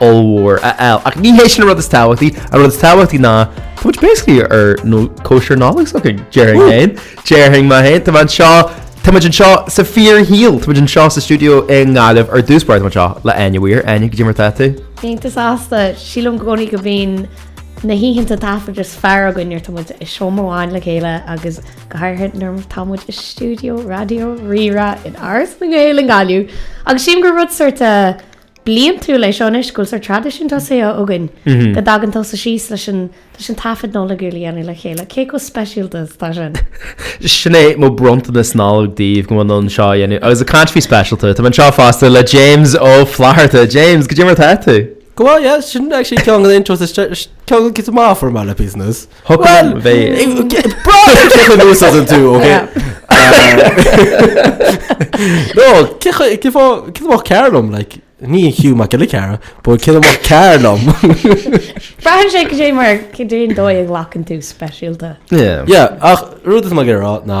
ollmhór a fháil, ach ní hé sin an rud is tábhachtaí, an rud is tábhachtaí ná tá muid basically ár gcóisir Nollags againn, déarfainn féin, déarfainn mé féin, tá mé anseo, tá muid anseo sa fíorshaol, tá muid anseo sa stiúideo i nGaillimh ar dtús báire, tá muid anseo le Áine Weir, Áine caidé mar atá tú? Iontach sásta, sílim i gcónaí go mbíonn na hoícheanta taifeadta is fearr againn nuair atá muid i seomra amháin le chéile agus go háirithe nuair atá muid i stiúideo raidió Rí-Rá in Áras na nGael in Gaillimh agus sílim gur rud sórt bliantúil é seo anois go bhfuil sórt traidisiún tosaithe againn go dtagann tusa síos leis an leis an taifead Nollag ar líne a dhéanamh le chéile. Cé chomh speisialta is atá sin? Sin é mo bronntanas Nollag daoibh go bhfuil mé in ann seo a dhéanamh agus ag caint faoi speisialta. Tá mé anseo fosta le James Ó Flatharta. James, caidé mar atá tú? Go maith, yeah, sin actually ceann de na intros is deise, ceann de na cinn is maith fuair mé le píosa anois. Bhuel, braitheann cé chomh nuashonrach tú, ok? No, cinnte maith go leor liom, like, ní Hugh Mac Giolla Chearra, but cinnte maith go leor liom? Braitheann sé caidé mar cén dóigh a ghlacann tú speisialta. Yeah. Yeah, ach an rud is maith ag rá ná.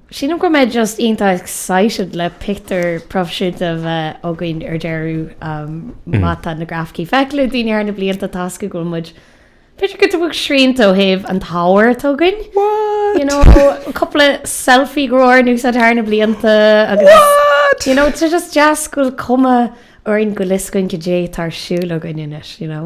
Sílim go mbeidh just iontach excited le pictiúr proifisiúnta a bheith againn ar deireadh má tá na grafaicí feicthe ag daoine thar na blianta toisc go bhfuil muid b'fhéidir giota beag srianta ó thaobh an ábhair atá againn. You know, cúpla selfie go raibh in úsáid thar na blianta agus you know, tá just deas go bhfuil cuma orainn go bhfuil a fhios againn caidé atá ar siúl againn anois, you know.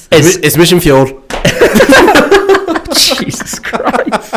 Is mise an feoil. Jesus Christ.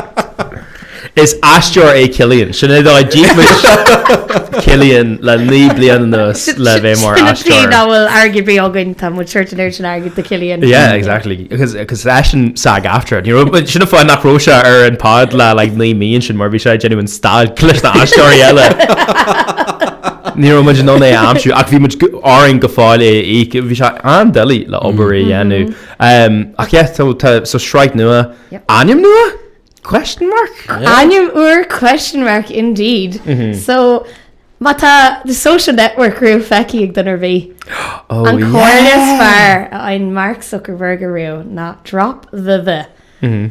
Is aisteoir é Cillian. Sin é dá d'íoc muid Cillian le bliain anuas le bheith mar aisteoir. Sin na trí go bhfuil an t-airgead bhí againn tá muid ag tabhairt an airgid do Cillian. Yeah, exactly. Agus agus leis an SAG-AFTRA. You know, sin an fáth nach raibh sé ar an pod le like 9 mí sin mar bhí sé ag déanamh an stailc leis na aisteoirí eile. Ní raibh muid in ann é a aimsiú ach bhí, bhí orainn go fóill é a íoc. Bhí sé an-doiligh le obair a dhéanamh. Ehm, ach yeah, so tá so sraith nua. Yep. Ainm nua? Question mark? Ainm úr question mark indeed. So má tá the social network riamh feicthe ag duine ar bith. Oh, An yeah. comhairle is fearr a fhaigheann Mark Zuckerberg ariamh ná drop the the.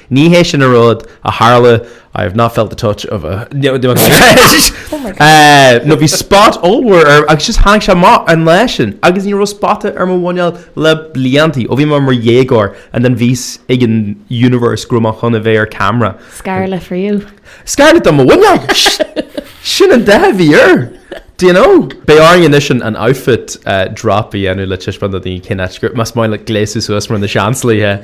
Ní hé sin an rud a tharla, I have not felt the touch of a Oh my God. nó bhí spot ollmhór orm agus just tháinig sé amach an lá sin agus ní raibh spota ar mo mhuineál le blianta ó bhí mé mar dhéagóir and then bhí a fhios ag an universe go raibh mé chun a bheith ar camera. Scarlet for you. Scarlet do mo mhuineál! Sin an dath a bhí air! Do you know? Beidh orainn anois an outfit drop a dhéanamh le taispeáint do dhaoine cén áit go raibh, más maith leat gléasadh suas mar na Seansálaithe.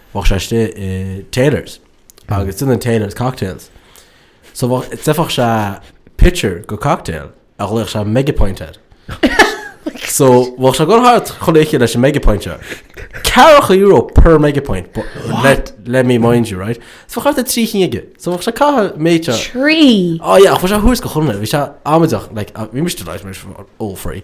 bheadh sé istigh i Taylors agus sin an Taylors cocktails so bheadh d'fheadfadh sé pitcher de cocktail a ghlaodh sé mega pint air so bheadh sé ag dul thart chuile oíche leis an mega pint seo ceathracha euro per mega pint but let, let me mind you right so bheadh thart trí cinn aige so bheadh sé ag caitheamh méid seo Trí! Oh yeah bheadh sé thuas go chonnaidh bhí sé amaideach like bhí muide like mar all free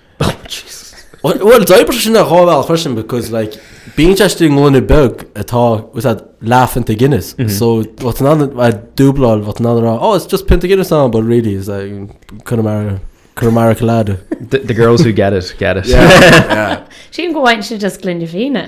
Bhuel, d'oibrigh sin ar dhá bhealach freisin because like, bíonn siad istigh i ngloine beag atá i bhfad níos lú ná pionta Guinness. Mhm. So bhí tú in ann a dúbláil bhí tú in ann a rá, oh, it's just pionta Guinness ann, but really is that chun mar chun mar lad. The, the girls who get it, get it. Yeah, yeah. Seo go bhfuil sin just gloine fíona.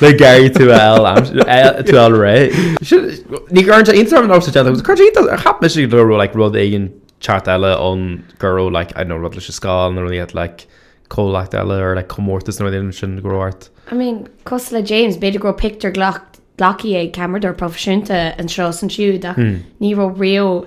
Beidh Gary tú fháil tú fháil réidh. Ní gurbh Instagram nós a dhéanta agus cuirtear iontas orm cheap mise go raibh like rud éigin eicínt eile ann go raibh like I don't know rud leis an scoil nó rud like comhlacht eile or like comórtas nó rud éigin sin go raibh ort. I mean cosúil le James b'fhéidir go raibh pictiúr ghlac- glacthaí ag ceamardóir proifisiúnta anseo is ansiúd ach ní raibh riamh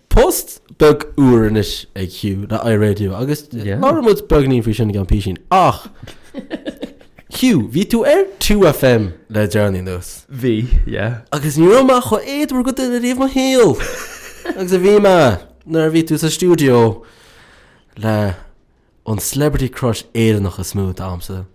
Post beag úr anois ag Hugh le iRadio agus labhraíonn muid beagáinín faoi sin i gceann písín ach Hugh, bhí tú ar 2FM le déanaí anuas. Bhí, yeah. Agus ní raibh mé chomh éadmhar de dhuine riamh i mo shaol agus a bhí mé nuair a bhí tú sa stiúideo le an celebrity crush Éireannach is mó damsa,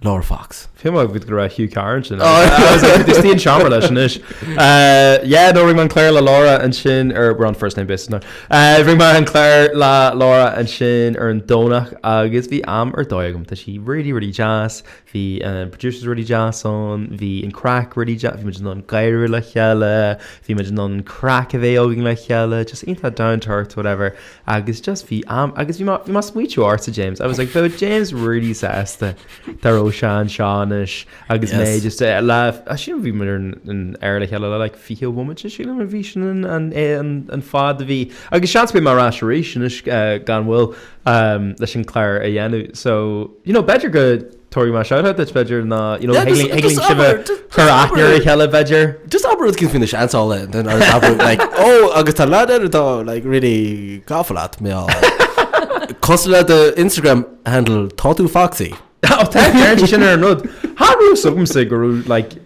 Laura Fox. Feel like go raibh éad agat go raibh Hugh Carr ansin. I was like, istigh i seomra leis anois. Uh, yeah, no, rinne mé an clár le Laura ansin, or we're on first name basis now. Uh, rinne mé an clár le Laura ansin ar an Domhnach agus bhí am ar dóigh agam. Tá sí really, really deas. Bhí an uh, producers really deas ann. Bhí an chraic really deas. Bhí muid in ann gáire le chéile. Bhí muid in ann craic a bheith againn le chéile. Just iontach down to earth, whatever. Agus just bhí am agus bhí bhí mé ag smaoitiú ortsa James. I was like beidh James really sásta tá mé anseo anois agus mé Yes. just eh, lá sin bhí muid ar an aer le chéile le like fiche bomaite sílim a bhí sin an an é an an fad a bhí agus seans beidh mé ar ais arís anois eh, gan mhoill um, leis an clár a dhéanamh so you know b'fhéidir go Tabharfaidh mé shout out duit b'fhéidir ná you know Yeah, just- tig linn sibh a abair, ju- just chur aithne ar a abair. chéile b'fhéidir. Just abair rud éigin faoi Na Seansálaithe then just abair like ó agus tá leaid eile atá like really gafa leat Mm. Cosúil le do Instagram handle tá tú foxy. Ó tá ceart sin ar an rud. Tá súil agamsa go raibh like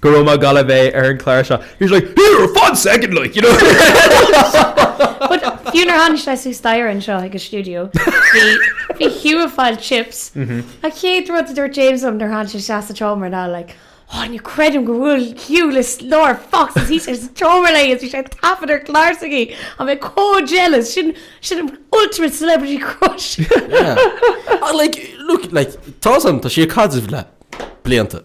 Go raibh maith go leor a bheith ar an clár seo. He was like, here fan second like you know. But fiú nuair a tháinig sé suas staighre anseo chuig an stiúideo bhí bhí Hugh ag fáil chips. An chéad rud a dúirt James liom nuair a tháinig sé isteach sa tseomra ná like, oh ní chreidim go bhfuil Hugh le Laura Fox istigh sa tseomra léi agus bhí sé ag taifeadadh an chlár s'aici. Tá mé chomh jealous sin sin an ultimate celebrity crush. Yeah. Like look like tá a fhios agam tá sí ag caidreamh le blianta.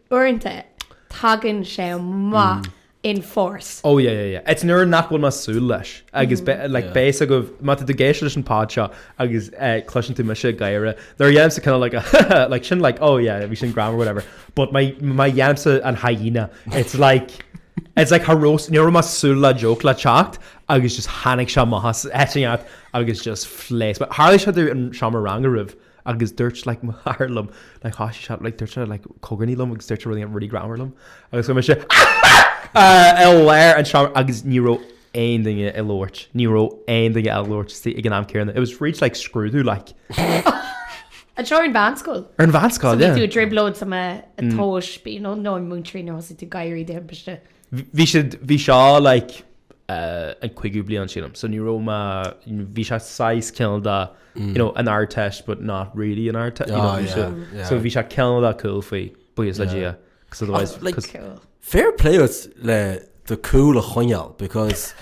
Uaireanta tagann sé amach in force. Oh yeah yeah yeah. It's nuair nach bhfuil mé ag súil leis agus be- like Yeah. bíodh a fhios agaibh, má tá tú ag éisteacht leis an pod seo agus eh, cloiseann tú mise ag gáire, nuair a dhéanaimse kind of like a like sin like oh yeah bhí sin greannmhar whatever but má má dhéanaimse an hyena it's like it's like har roast, ní raibh mé ag súil le joke le teacht agus just tháinig sé amach as áit éicint agus just phléasc mé. Tharla sé dom sa seomra ranga roimhe. agus dúirt like mo chara liom like thá sí sean like dúirt sé like cogarnaí liom agus dúirt sé rudaí really greannmhar liom agus go raibh mise i lár an seomra agus ní raibh aon duine ag labhairt ní raibh aon duine ag labhairt is ag an am céanna it was reached like scrúdú like An seo ar an mheánscoil? ar an mheánscoil yeah tú i dtrioblóid sa mm. atóis bí nó nó an múinteoirí nó thosaigh tú ag gáire de thimpiste. Bhí siad, bhí seo like an cúigiú bliain sílim, so ní raibh mé, bhí sé saghas cineál de you know an Ardteist but not really an Ardteist, you know, so, so bhí sé cineál de cool faoi, buíochas le Dia, because otherwise, because. Fair play duit le do cool a choinneáil because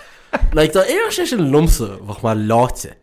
like dá n-éireodh sé sin liomsa bheadh mé leáite.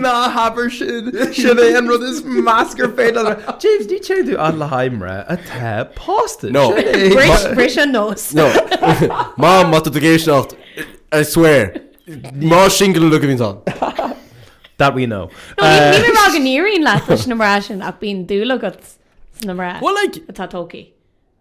Ná habair sin, sin é an rud is measa faoi. James, ní téann tú i ndiaidh mná atá pósta. No. Bris, bris an nós. No. Mam, má tá tú ag éisteacht, I swear, mná singil le go mbíonns ann. That we know. No, ní, ní raibh mé ag éirí leat leis na mná sin ach bíonn dúil agat sna mná Well, like, atá tógtha.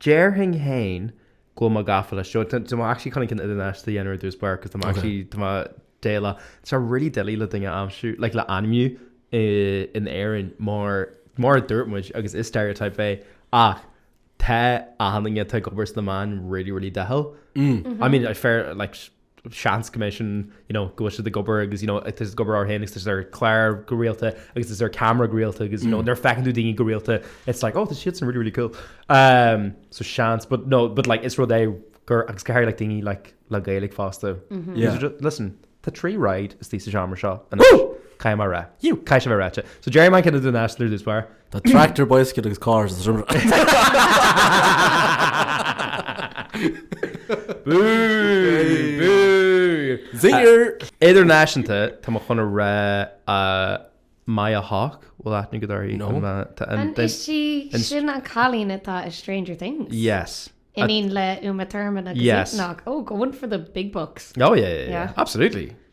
Déarfainn féin go bhfuil mé gafa leis. Tá mé actually chun ceann idirnáisiúnta a dhéanamh ar dtús báire cos tá mé actually tá mé doiligh tá sé really doiligh le duine aimsiú like le ainmniú i in Éirinn mar mar a dúirt muid agus is stereotype é ach tá achan duine atá ag obair sna meáin really really dathúil. I mean fair like seans go mbeidh sin, you know, go bhfuil siad ag obair agus, you know, tá siad ag obair orthu féin agus tá siad ar cláir go rialta agus tá siad ar camera go rialta agus, you know, nuair a fheiceann tú daoine go rialta, it's like, oh, tá siadsan really, really cool. Um, so seans, but no, but like, is rud é gur, agus go háirithe like daoine like le Gaeilge fosta. Yeah. These are ju- Listen, tá trí ride istigh sa seomra seo. Woo! Caithfidh mé a rá. You! Caithfidh mé a rá. So déarfaidh mé an ceann idirnáisiúnta ar dtús báire. Tá tractor, bicycle agus car sa Zinger! Idirnáisiúnta, tá mé chun a rá Maya Hawke, bhfuil aithne agat uirthi? No. An í sin an cailín atá i Stranger Things? Yes. Iníon le Uma Thurman agus Ethan Hawke. Yes. Oh, going for the big bucks. Oh yeah, yeah, yeah. Yeah. Absolutely.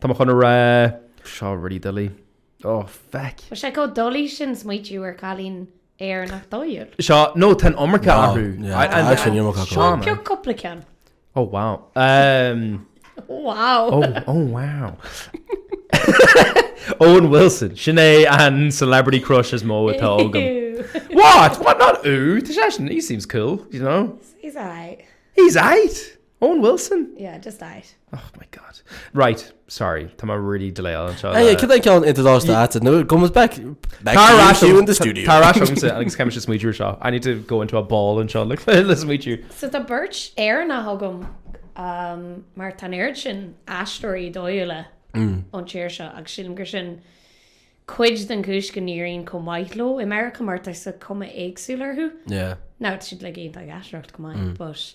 Tá mé chun a rá, seo really doiligh. Ó, feck! Tá sé chomh doiligh sin smaoitiú ar chailín Éireannach dóighiúil. Seo, nó tá an iomarca orthu. Seo bheag cúpla ceann. Ó, wow. Ó, wow. Ó, ó, wow. Owen Wilson, sin é an celebrity crush is mó atá agam. What? What? Not ooh. Tá sé sin, he seems cool, you know. He's aight. He's aight! Owen Wilson? Yeah, just that. Oh my God. Right, sorry, tá mé really delay anseo le. Hey, cad é ceann idirnáisiúnta nó go mbeidh back, back to you in the studio. Tá rá agamsa agus caithfidh mise smaoitiú ar seo. I need to go into a ball anseo le le smaoitiú. So tá beirt Éireannach agam um mar tá an oiread sin aisteoirí dóighiúla ón tír seo agus sílim gur sin cuid den chúis go n-éiríonn chomh maith leo i Meiriceá mar tá cuma éagsúil orthu. Yeah. Now, tá siad like iontach ag aisteoireacht go maith but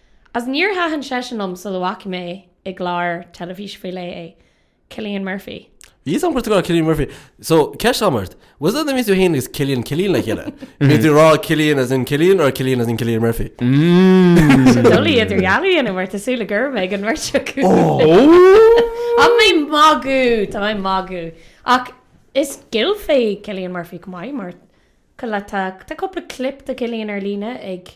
Ach níor thaitin seisean liom sula bhfaca mé i gclár teilifíse faoi leith é, Cillian Murphy. Bhí fhios agam go raibh tú ag rá Cillian Murphy. So, ceist agam ort, was that the mbeadh tú fhéin agus Cillian Cillian le chéile? An bhfuil tú ag rá Cillian as in Cillian or Cillian as in Cillian Murphy? Tá dul ag idirdhealú ionam ort, is súil le gurb é ag an mbeirt acu. Tá mé magadh! Tá mé magadh! Ach is Gael é Cillian Murphy go maith, mar, ar ndóigh, tá cúpla clip de Cillian ar líne ag.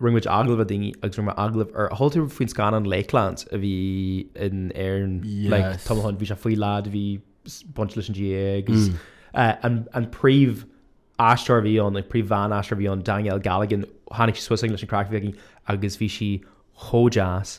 Rinne muid agallamh le duine agus rinne muid agallamh ar, chuala tú faoin scannán Lakelands a bhí in Éirinn le tamall ó shin, bhí sé faoi lad a bhí baint leis an GAA agus an príomh aisteoir a bhí ann, an príomh bhean aisteoir a bhí ann, Danielle Galligan, tháinig sí suas linn leis an craic a bhí aici agus bhí sí chomh deas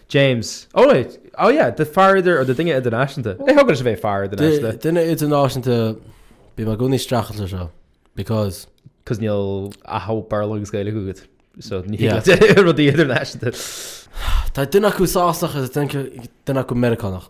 James, Ó, á yeah, do phaidir nó do duine idirnáisiúnta. Ní thugann sibh é phar idirnáisiúnta. Duine idirnáisiúnta, bím i gcónaí streachailt leis seo because. Cos níl ach Béarla agus Gaeilge agat, so ní Yeah. thuigim rudaí idirnáisiúnta. Tá duine acu Sasanach agus duine acu Meiriceánach.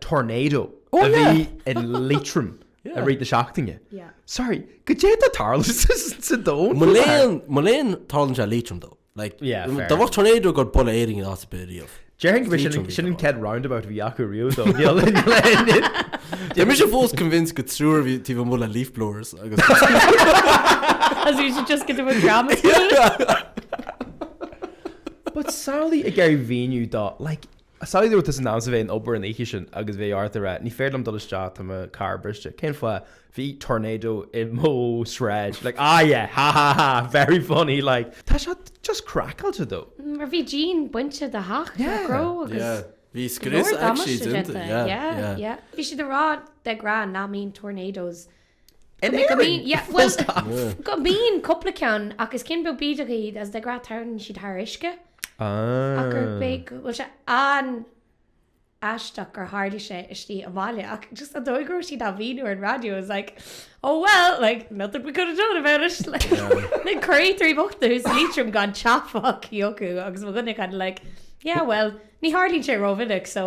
tornado a bhí i Liatroim i rith na seachtaine. Sorry, goidé atá ag tarlú sa domhan? Mo léan, mo léan tarlann sé i Liatroim though. Like, yeah, fair. Dá mbeadh tornado ag gabháil a bhualadh Éirinn in áit ar bith riamh. Déarfainn go bhfuil sin, sin an chéad roundabout a bhí acu riamh though. Tá mise fós convinced gur triúr a bhí taobh amuigh le leaf blowers agus. As you should just get them a drama school. But samhlaigh ag iarraidh a mhíniú do, like, Samhlaigh dá mbeadh tusa in ainm is a bheith ag obair an oíche sin agus bheith ort a rá ní féidir liom dul isteach tá mo carr briste. Cén fáth? Bhí tornado i mo sráid like ah yeah ha ha ha very funny like tá sé just craiceáilte though. Mar bhí díon bainte de theach freagra agus bhí go leor damáiste déanta yeah yeah yeah bhí siad ag rá de ghnáth nach mbíonn tornadoes In Éirinn! Full stop! Go mbíonn cúpla ceann ach is cinn beag bídeach iad agus de ghnáth tarlaíonn siad thar uisce ach gur beag bhfuil sé an-aisteach gur tharla sé istigh i mbaile ach just an dóigh go raibh siad á mhíniú ar an raidió I was like oh well like nothing we could have done about it like na créatúirí bochta thuas in Leitrim gan teach fágtha acu agus mo dhuine kind of like yeah well ní tharlaíonn sé rómhinic so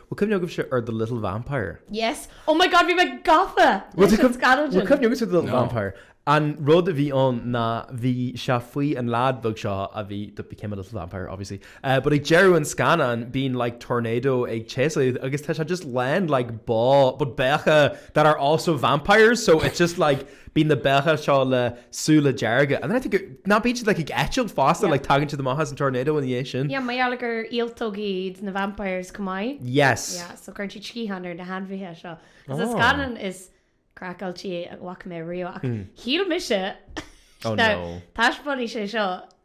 Bhfuil cuimhne agaibhse ar The Little Vampire? Yes. Oh my God, bhí mé gafa leis an scannán sin. Bhfuil cuimhne agaibhse ar The Little Vampire? An rud a bhí ann ná bhí sé faoi an leaid bheag seo a bhí, that became a little vampire obviously, but ag deireadh an scannáin bíonn like tornado ag séasamh agus tá sé just lán like ba, but beithígh that are also vampires so it's just like, Bíonn na beithígh seo le súile dearga. And then I think you're, ná bíonn siad like ag eitilt fosta, Yeah. like tagann siad amach as an tornado ina dhiaidh sin. Yeah, mar gheall gur ialtóg iad na vampires chomh maith. Yes. Yeah, so cuireann siad sciatháin ar na hainmhithe seo. Cos is Oh. scannán is craiceáiltí a bhfaca mé riamh ach shíl mise Oh now no. taispeánfaidh sé seo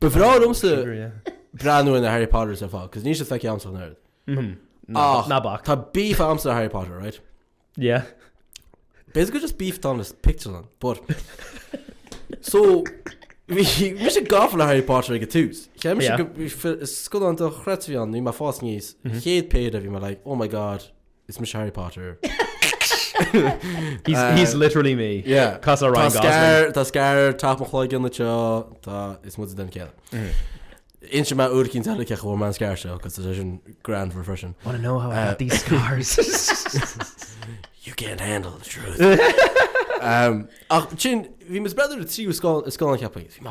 Ba bhreá liomsa breathnú ar na Harry Potters ar fad, cos níl siad feicthe agamsa an oiread. Mhm. Ach, Ná bac. Tá beef agamsa ar Harry Potter, right? Yeah. Basically just beef tá na pictiúrlann, but... So, bhí mise gafa le Harry Potter ag an tús. Bhí Yeah. Mhm. sé scannán dochreidte ann, bhí mé ag fás aníos, chéad phéire bhí mé like, oh my god, Is mise Harry Potter. He's, he's literally me. Yeah. Cosúil le Ryan Gosling. Tá scar taobh mo chloigeann anseo tá is mu den céad. Inseoidh mé uair eicínt eile cén chaoi bhfuair mé an scar seo cos sé sin greannmhar freisin. Wanna know how I got these scars? You can't handle the truth. um, ach sin, bhí mise b'fhéidir an tríú scannán ceapaim. Bhí mé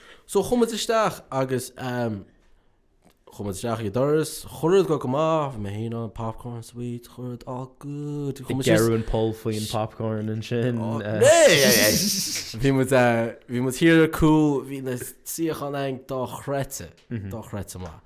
So chuaigh muid isteach agus ehm chuaigh muid isteach ag an doras, chuile rud ag goil go maith, bhí mé féin ann, popcorn, sweets, chuile rud all good. Shuigh Ag muid síos- gearradh an poll faoin popcorn ansin. Oh, eh. né, né, né. Bhí muid eh, bhí muid thiar ar cúl, bhí na suíocháin againn dochreidte, dochreidte maith.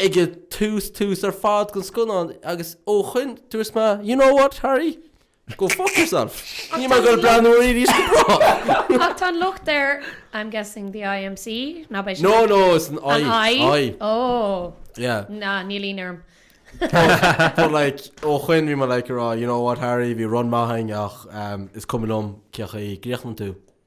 ag tús tús ar fad den scannán agus ó shoin dúirt mé You know what, Harry? Go fuck yourself. Níl mé ag goil ag breathnú air arís go brách. Ach tá an locht ar, I'm guessing the IMC, ná beidh siad No, ag, no, it's an an I, I? I. Oh. Yeah. Ná, níl aoinne orm. But like, ó shoin bhí mé like ag rá You know what, Harry, bhí run maith againn ach is cuma liom cén chaoi a gcríochnaíonn tú.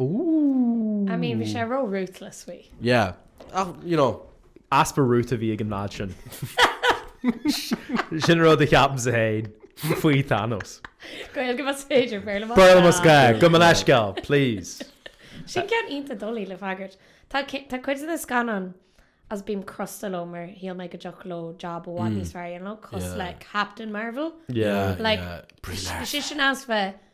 Ooh. I mean bhí sé ró ruthless faoi. Yeah. Ach, you know. Easpa ruth a bhí ag an mbád sin. Sin an rud a cheapaimse féin faoi Thanos. Gaeilge más féidir, Béarla más gá. Béarla más gá, gabh mo leithscéal, please. Sin ceann iontach doiligh le freagairt. Tá cuid de na scannáin agus bím crosta leo mar shíl mé go dtiocfadh leo jab i bhfad níos fearr a dhéanamh leo cosúil le Captain Marvel. Yeah, yeah. Brie Larson. Is é sin as bheith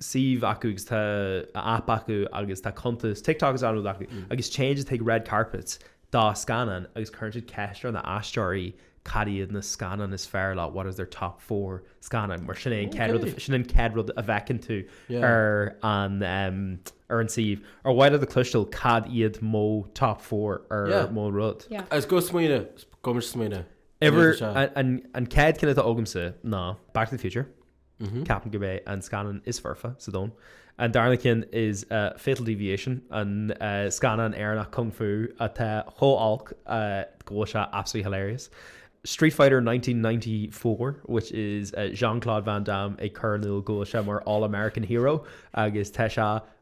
suíomh acu agus tá aip acu agus tá cuntas TikTok and all acu agus téann siad chuig Red Carpet do scannáin agus cuireann siad ceist ar na haisteoirí cad iad na scannáin is fearr leo, what is their top four scannáin mar sin é an chéad rud a, sin an chéad rud a bhfeiceann tú ar an ar an suíomh ar mhaith leat a cloisteáil cad iad mo top four ar mo rud. Agus go smaoineamh, go mbeidh muid ag smaoineamh. Ever, an chéad cheann atá agamsa ná Back to the Future. Mm-hmm. Ceapaim gurb é an scannán is foirfe sa domhan. An darna ceann is uh, Fatal Deviation, an uh, scannán Éireannach kung fu atá chomh olc uh, go bhfuil sé absolutely hilarious. Street Fighter 1994, which is uh, Jean-Claude Van Damme ag cur in iúl go bhfuil sé mar All-American Hero agus tá sé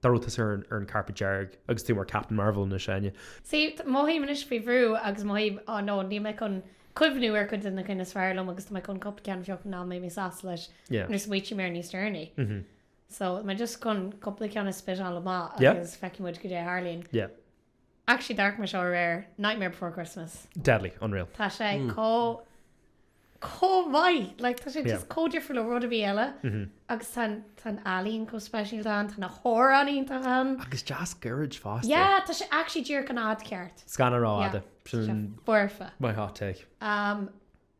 Dá raibh tusa ar an carpet dearg agus tú mar Captain Marvel anois, a Áine. Sea, mothaím anois faoi bhrú agus mothaím, oh no, níl mé chun cuimhniú ar chuid de na cinn is fearr liom agus tá mé chun cupla ceann a phiocadh nach mbeidh mé sásta leis nuair a smaoitím air níos deireanaí. So, mé just chun cupla ceann a spit-áil amach agus feicfidh muid goidé a tharlaíonn. Actually d'amharc mé air seo aréir, Nightmare Before Christmas. Deadly, unreal. Tá sé comh comh maith, like tá sé just Yeah. comh difriúil ó rud ar bith eile agus tá an- tá an ealaín comh speisialta ann, tá na hamhráin iontach ann. Agus deas gairid fosta. Yeah, tá sé actually díreach an fhad ceart. Scannáin rófhada. Yeah. Tá sé foirfe. Sin my hot take. Um,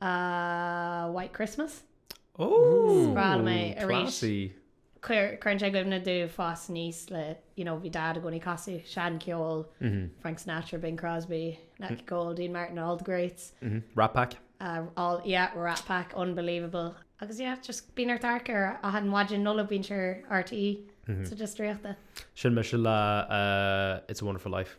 Ah, White Christmas. Is breá liom é arís. Cuireann sé i gcuimhne domh fás aníos le, you know, bhí Dad i gcónaí ag casadh seancheol, Frank Sinatra, Bing Crosby, Nat King Cole, Dean Martin, all the greats. Rat Pack. All, yeah, Rat Pack, unbelievable. Agus yeah, just bíonn ort amharc air achan mhaidin Nollag bíonn sé ar RTÉ so just draíochta. Sin mise le It's a Wonderful Life.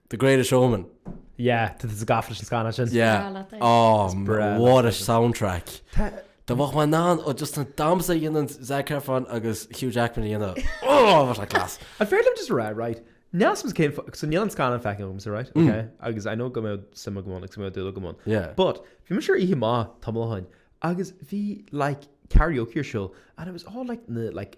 The Greatest Showman. Yeah, tá tú gafa leis an scannán sin. Yeah. Is breá leat é. Oh, is breá leat é. What a soundtrack. Dá- dá mbeadh mé in ann ó just an damhsa a dhéanann Zac Efron agus Hugh Jackman a dhéanamh. Oh, what a class. An féidir liom just rá, right, neas mus céim, so níl an scannán feicthe agam, so right, okay, agus I know go mbeadh suim agam ann, agus go mbeadh dúil agam ann. Mm. Yeah. But, bhí muid ar oíche amach, tamall ó shoin, agus bhí, like, karaoke ar siúl, and it was all, like, na, like,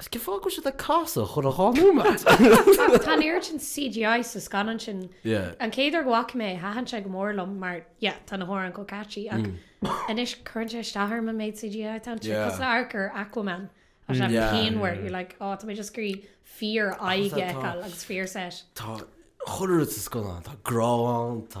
Is cén fáth go bhfuil siad ag casadh achan dhá nóiméad? Tá an oiread sin CGI sa scannán sin. Yeah. An chéad uair go bhfaca mé é, thaitin sé go mór liom mar, yeah, tá na hamhráin chomh catchy ach anois cuireann sé isteach orm an méid CGI atá ansin. Yeah. Cosúil le amharc ar Aquaman. Tá sé Yeah. pianmhar. You're like, oh, tá mé just ag iarraidh fíor áit a fheiceáil agus fíor set. Tá chuile rud sa scannán, tá grá ann, tá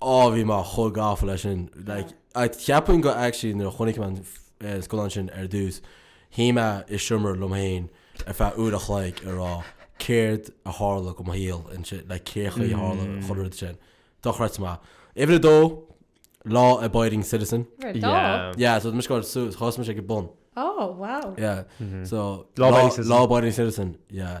Ó bhí mé chomh gafa leis sin like ceapaim go actually nuair a chonaic mé an scannán sin ar dtús shuigh mé i seomra liom féin ar feadh uair a chloig a rá céard a tharla do mo shaol ansin like cé chaoi a tharla an chuile rud sin dochreidte maith. Uimhir a dó law abiding citizen Uimhir a dó? Yeah. Yeah so tá mise ag dul suas thosaigh mise ag an bun. Oh wow. Yeah so law abiding citizen yeah.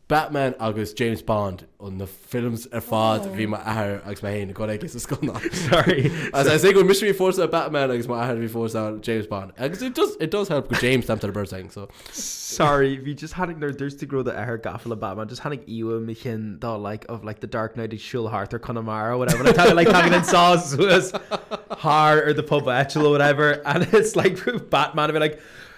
Batman agus James Bond ó na films ar fad bhí mo athair agus mé fhéin ag dul ag i gcónaí sorry as I say go mise bhí mé for sure Batman agus mo athair bhí for sure James Bond agus it does it does help go bhfuil James stamped on a birth thing so sorry bhí just tháinig nuair dúirt tú go raibh do athair gafa le Batman just tháinig íomhá i mo cheann dá like of like the dark knight ag siúl thart ar Chonamara whatever like tá like tagann an sás suas thar ar the pub etch or whatever and it's like Batman a bhí like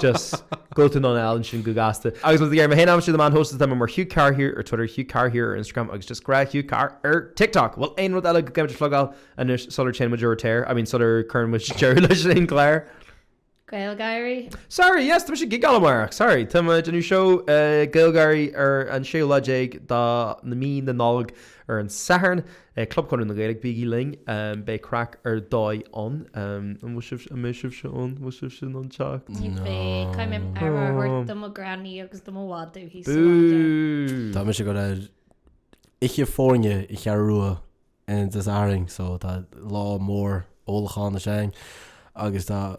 Just go to nonn ansin go gasta. Agus féadann tú mé féin a aimsiú do man host is tá mé mar Hugh Carr here ar Twitter, Hugh Carr here ar Instagram agus just grá Hugh Carr ar TikTok. Bhuel aon rud eile go gcaithfimid a phlugáil anois sular téann muid ar aer, I mean sular cuireann muid deireadh leis an chlár. Gaeilgeoirí. Sorry, yes, tá mise ag gigeáil amárach. Sorry, tá muid ag déanamh seó Gaeilgeoirí ar an séú lá déag de mhí na Nollag. Ar an Satharn, ag Club Chonradh na Gaeilge, bígí linn, beidh craic ar dóigh ann. An bhfuil sibh, an mbeidh sibhse ann? An bhfuil sibhse in ann teacht? Ní bheidh, caithfidh mé aire a thabhairt do mo ghranny agus do mo mhadadh thíos sa bhaile. Bú! Tá mise ag dul ar oíche foirne i gCeathrú Rua Dé Sathairn so tá lá mór ólacháin againn agus tá